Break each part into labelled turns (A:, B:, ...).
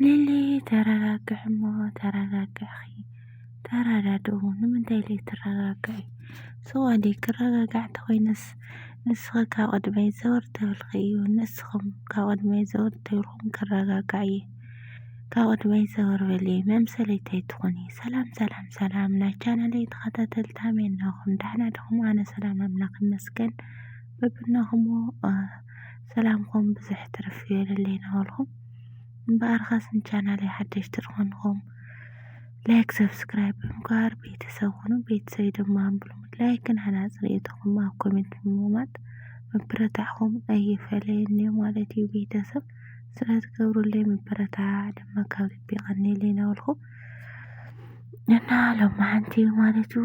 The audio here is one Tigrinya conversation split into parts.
A: ሊሊ ተረጋግዒ እሞ ተረጋግዒ ተረዳድኡ ንምንታይ ዘይትረጋግዒ ሰዋዲ ክረጋጋዕ እንተኾይነስ ንስኺ ካብ ቅድመይ ዘወር ተብልኺ እዩ ንስኹም ካብ ቅድመይ ዘወር ተብልኩም ክረጋጋዕ እየ ካብ ቅድመይ ዘወር በሊ መምሰለይቲ ኣይትኾኒ ሰላም ሰላም ሰላም ናይ ቻናለይ ተኸታተልቲ ኣሜን ናኹም ዳሕና ድኹም ኣነ ሰላም ኣምላኽ ይመስገን በብናኹም ሰላምኩም ብዝሕ ትርፍ ይበለለይ ናበልኩም እምበኣርኸስ ንቻናለይ ሓደሽቲ ዝኾንኹም ላይክ ሰብስክራይብ ብምግባር ቤተሰብ ኹኑ ቤተሰብ ድማ ብሉ ላይክን ሃናፅ ርእይቶኹም ኣብ ኮሜንት ብምቕማጥ ምብረታዕኹም ኣይፈለየኒ ማለት እዩ ቤተሰብ ስለትገብሩለይ ምበረታዕ ድማ ካብ ልቢ ይቐኒለይ ናበልኩ እና ሎማዓንቲ ማለት እዩ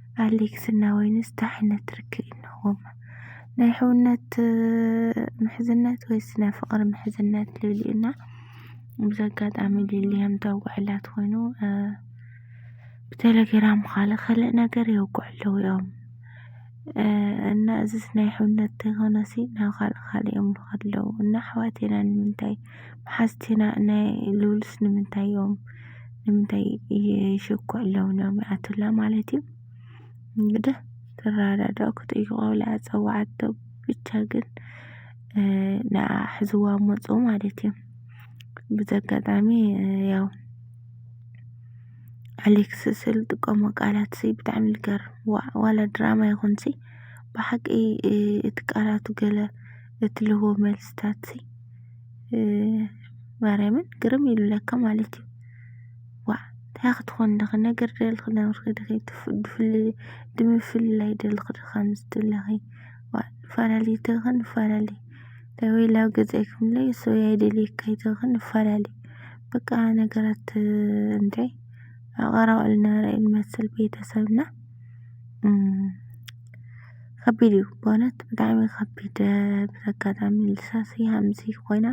A: ኣሌክስ እና ወይንስ ታይ ዓይነት ርክብ እዩ እንሆዎም ናይ ሕውነት ምሕዝነት ወይስ ናይ ፍቅሪ ምሕዝነት ልብል እዩ እና ብዚ ኣጋጣሚ ሊሊያም ተውግዐላ ትኮይኑ ብቴሌግራም ካለ ከልእ ነገር የውግዑ ኣለዉ እዮም እና እዚስ ናይ ሕውነት ተይኮነሲ ናብ ካልእ ካልእ እዮም ልኸዱ ኣለዉ እና ኣሕዋቴና ንምንታይ መሓዝቲና ናይ ሉልስ ንምንታይ እዮም ንምንታይ ይሽኩ ኣለዉ እዮም ይኣትላ ማለት እዩ እንግዲህ ትረዳዳእ ክጥይቆላ ፀዋዓቶ ብቻ ግን ንኣ ሕዝዋ መፁ ማለት እዩ ብዘጋጣሚ ያው ኣሌክስ ስል ጥቀሞ ቃላት ሲ ብጣዕሚ ልገርም ዋላ ድራማ ይኹንሲ ብሓቂ እቲ ቃላቱ ገለ እትልህቦ መልስታት ሲ ማርያምን ግርም ኢሉለካ ማለት እዩ። ዋእ እንታይ ክትኾን ድኺ ነገር ደልኺ ደምርኺ ድኺ ድፍል ድምፍልላይ ደልኺ ዶ ከምዚ ትብለኺ ዋእ ንፋላለ ድኺ ንፋላለ እንታይ ወይ ላብ ገዛይ ክምለይ ሰው ኣይደልየካ ኣይትኺ ንፋላለ በቃ ነገራት እንታይ ኣብ ቀረባ ዝነበረ እዩ ዝመስል ቤተሰብና። ከቢድ እዩ ብእውነት ብጣዕሚ ከቢድ ብዘጋጣሚ ልሳን ስያምሲ ኮይና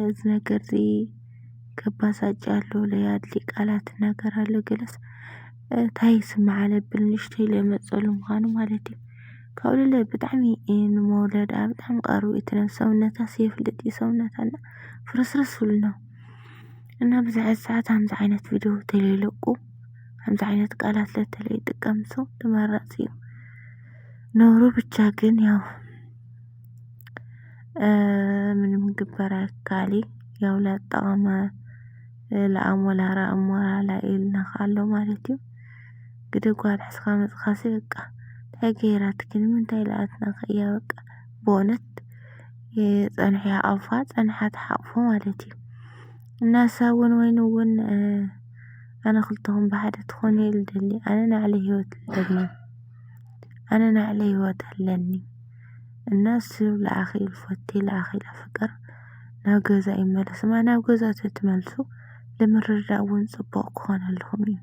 A: እዚ ነገር እዚ ከባሳጭ ኣሎ ለያድሊ ቃላት ነገር ኣሎ ገለስ ታይ ስማዓ ለብል ንእሽተይ ለመጸሉ ምዃኑ ማለት እዩ ካብኡ ለለ ብጣዕሚ ንመውለድ ብጣዕሚ ቀርቡ እቲ ነብሲ ሰውነታ ስየፍልጥ እዩ ሰውነታ እና ፍርስርስ ኢሉ ነው እና ብዝሕ ሰዓት ሃምዚ ዓይነት ቪድዮ ተለይለቁ ከምዚ ዓይነት ቃላት ለተለይጥቀም ሰው ተመራፂ እዩ። ነውሩ ብቻ ግን ያው ምንም ግበር ኣይካሊ ያው ላጠቐመ ለኣሞላራ እሞራላ ኢልና ኣሎ ማለት እዩ። ግደ ጓል ሕስኻ መፅኻሲ በቃ እንታይ ገይራትኪ ንምንታይ ለኣትናኸ እያ በቃ በእውነት ፀንሑ ይሓቕፋ ፀንሓ ትሓቕፎ ማለት እዩ። እናሳ እውን ወይን እውን ኣነ ክልተኹም ብሓደ ትኾኑ እየ ልደሊ ኣነ ናዕለይ ህይወት ልደሊ ኣነ ናዕለይ ህይወት ኣለኒ እና ስብ ለኣኺ ልፈቲ ለኣኺ ለፍቅር ናብ ገዛ ይመለስ እማ ናብ ገዛ ተትመልሱ ልምርዳእ እውን ፅቡቕ ክኾነልኹም እዩ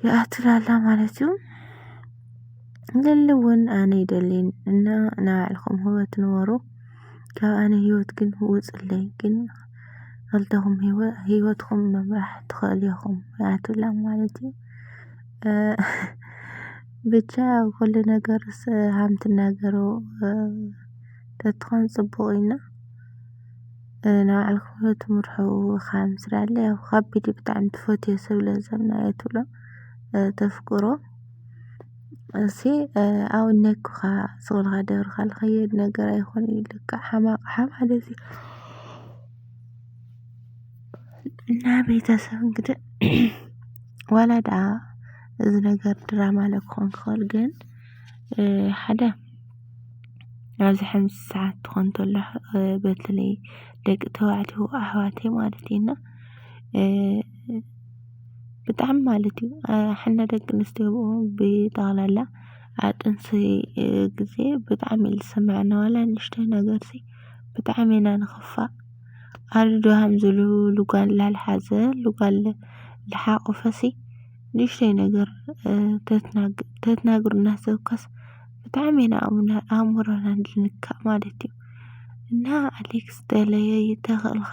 A: ይኣትላላ ማለት እዩ ልሊ እውን ኣነ ይደሊን እና ናባዕልኹም ህይወት ንበሩ ካብ ኣነ ሂወት ግን ውጹለይ ግን ክልተኹም ሂወትኹም ምምራሕ ትኽእሉ ኢኹም ኣያቱላ ማለት እዩ። ብቻ ያው ኩሉ ነገር ሃም ትናገሩ ተትኾን ጽቡቕ እዩ እና ናይ ባዕልኩም ሂወት ምርሑ ኻብ ምስራለ ያው ኻቢድ እዩ ብጣዕሚ ትፈትዮ ሰብ ለዛ ኣያቱላ ተፍቅሮ። እሲ ኣውነክኻ ጾልኻ ደብርኻ ልኸየድ ነገር ኣይኮነ ኢልካ ሓማቕ ሓም ሓደሲ እና ቤተሰብ እንግዲህ ዋላ ደኣ እዚ ነገር ድራማ ለ ክኾን ክኸእል ግን ሓደ ናብዚ ሕምስ ሰዓት ትኾን ተሎ በትለይ ደቂ ተባዕትዮ ኣሕዋተይ ማለት እዩና ብጣዕሚ ማለት እዩ ሕነ ደቂ ኣንስትዮ ብጠቅላላ ኣብ ጥንሲ ግዜ ብጣዕሚ እዩ ዝስመዐና ዋላ ንእሽተይ ነገር ሲ ብጣዕሚ ኢና ንክፋእ ኣሉ ዶ ሃም ዝሉ ጓል ላልሓዘ ጓል ልሓቆፈ ሲ ንእሽተይ ነገር ተትናግሩና ሰብ ኮስ ብጣዕሚ ኢና ኣእምሮና ዝንካእ ማለት እዩ። እና ኣሌክስ ተለየይ ተክእልካ።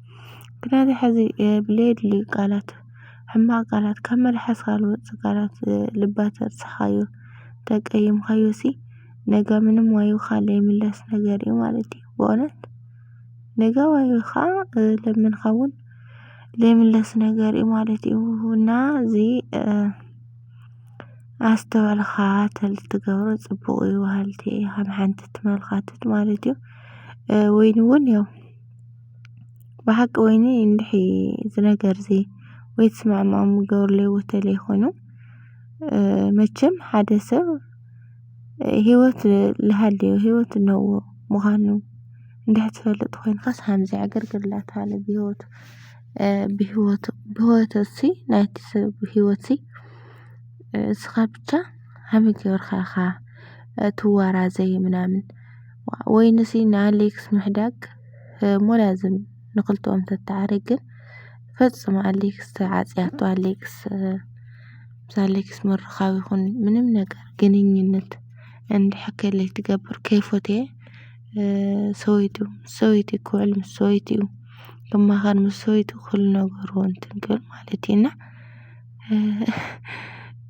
A: ግናን ሕዚ ብሌድሊ ቃላት ሕማቅ ቃላት ካብ መልሓስካ ዝወጽ ቃላት ልባት ኣብጽሓዮ ተቀይምካዮ ሲ ነጋ ምንም ዋይኻ ለይምለስ ነገር እዩ ማለት እዩ በእውነት ነጋ ዋይኻ ለምንካ ውን ለይምለስ ነገር እዩ ማለት እዩ እና እዚ ኣስተውዕልኻ ተልትገብሮ ጽቡቅ እዩ በሃልቲ እየ ከም ሓንቲ ትመልካትት ማለት እዩ ወይን ውን ያው ብሓቂ ወይኒ እንድሒ እዚ ነገር እዚ ወይ ትስማዕምዖ ምግበርለይ ወተለይ ኮይኑ መቸም ሓደ ሰብ ህይወት ልሃልዮ ህይወት እነሆ ምዃኑ እንድሕ ትፈልጥ ኮይንካስ ሃምዚ ዕግርግር ላተሃለ ብህይወት ብህይወት ብህይወት እሲ ናይቲ ሰብ ህይወት እሲ እስኻ ብቻ ሃመይ ገይርካ ኢኻ ትዋራዘይ ምናምን ወይንሲ ንኣሌክስ ምሕዳግ። ሞላዝም ንክልተኦም ተተዓርቅ ግን ፈጽሙ ኣሌክስ ዓጽያቶ ኣሌክስ ምስ ኣሌክስ ምርኻብ ይኹን ምንም ነገር ግንኙነት እንድሕር ከለይ ትገብር ከይፎተየ ሰበይቱ ምስ ሰበይቱ ክውዕል ምስ ሰበይቱ እዩ ክማኸር ምስ ሰበይቱ ኩሉ ነገሩ እንትን ክብል ማለት እዩ እና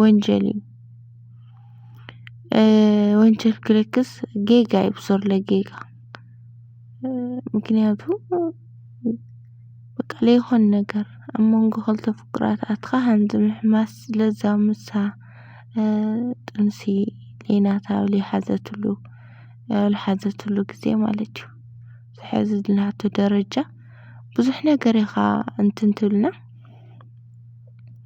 A: ወንጀል እዩ። ወንጀል ክልክስ ጌጋ እዩ ብሱር ለጌጋ ምክንያቱ በቃ ለይኾን ነገር ኣብ መንጎ ኸልተ ፍቁራት ኣትኻ ሃንዚ ምሕማስ ለዛ ምሳ ጥንሲ ሌናታ ለይሓዘትሉ ልሓዘትሉ ጊዜ ማለት እዩ። ዝሕዚ ልናቱ ደረጃ ብዙሕ ነገር ኢኻ እንትንትብልና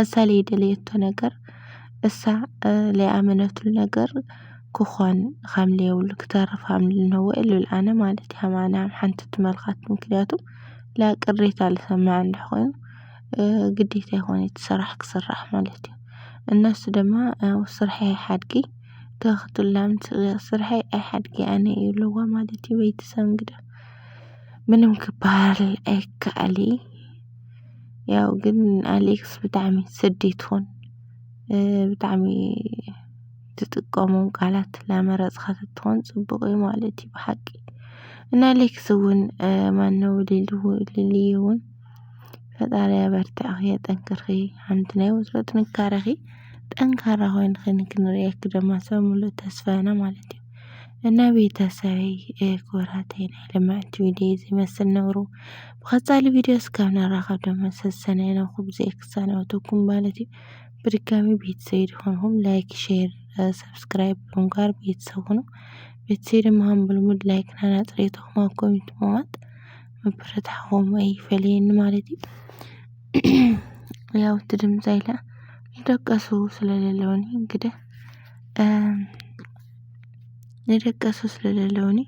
A: እሳ ለይደለየቶ ነገር እሳ ለይኣመነትሉ ነገር ክኾን ኻም ለየብሉ ክተርፍ ኻም ልነወ እልብል ኣነ ማለት እየ ኣነ ኣብ ሓንቲ ትመልካት ምክንያቱ ላ ቅሬታ ልሰምዕ እንድሕ ኾይኑ ግዴታ ኣይኮነይ እቲ ስራሕ ክስራሕ ማለት እዩ። እነሱ ደማ ኣብ ስርሐይ ኣይሓድጊ ተክትላም ስርሐይ ኣይሓድጊ ኣነ እብልዋ ማለት እዩ። በይትሰብ እንግዳ ምንም ክበሃል ኣይከኣልይ። ያው ግን ኣሌክስ ብጣዕሚ ስዲ ትኹን ብጣዕሚ ትጥቀሞም ቃላት ላመረጽካ ተትኾን ጽቡቕ እዩ ማለት እዩ ብሓቂ እና ኣሌክስ እውን ማነው ሊሉ ሊሊ እውን ፈጣሪ ኣበርትዕኺ የጠንክርኺ ሓንቲ ናይ ወትሮ ጥንካረኺ ጠንካራ ኮይንኺ ንክንርእየኪ ድማ ሰብ ሙሉእ ተስፋ ኢና ማለት እዩ እና ቤተሰበይ ክቡራተይ ናይ ልምዕቲ ቪድዮ እዚ ይመስል ነብሩ ብቀጻሊ ቪድዮ እስካብ ንራኸብ ድማ ሰሰናዩ ናብ ኩብዘይ ክሳናበተኩም ማለት እዩ። ብድጋሚ ቤተሰብ ድኾንኩም ላይክ፣ ሼር፣ ሰብስክራይብ ብምግባር ቤተሰብ ሁኑ። ቤተሰብ ድማ ብልሙድ ላይክና ናጽሬተኹም ኣብ ኮሚንት ምዋት ምብርታዕኹም ኣይፈለየኒ ማለት እዩ። ያው እቲ ድምፂ ኢለ ይደቀሱ ስለሌለውኒ እንግዲህ ንደቀሱ ስለ ለለዉኒ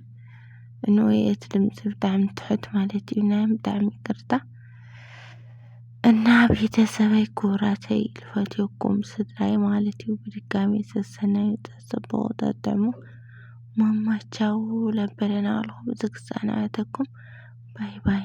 A: እንኦይ እቲ ድምጺ ብጣዕሚ ትሑት ማለት እዩ ናይ ብጣዕሚ ይቅርታ። እና ቤተሰበይ ክቡራተይ ልፈትየኩም ስድራይ ማለት እዩ ብድጋሚ ሰሰናዩ ጸጸብቑ ጠጥዕሙ ማማቻው ለበለና ኣልኹም ዝግሳና ኣተኩም ባይ ባይ።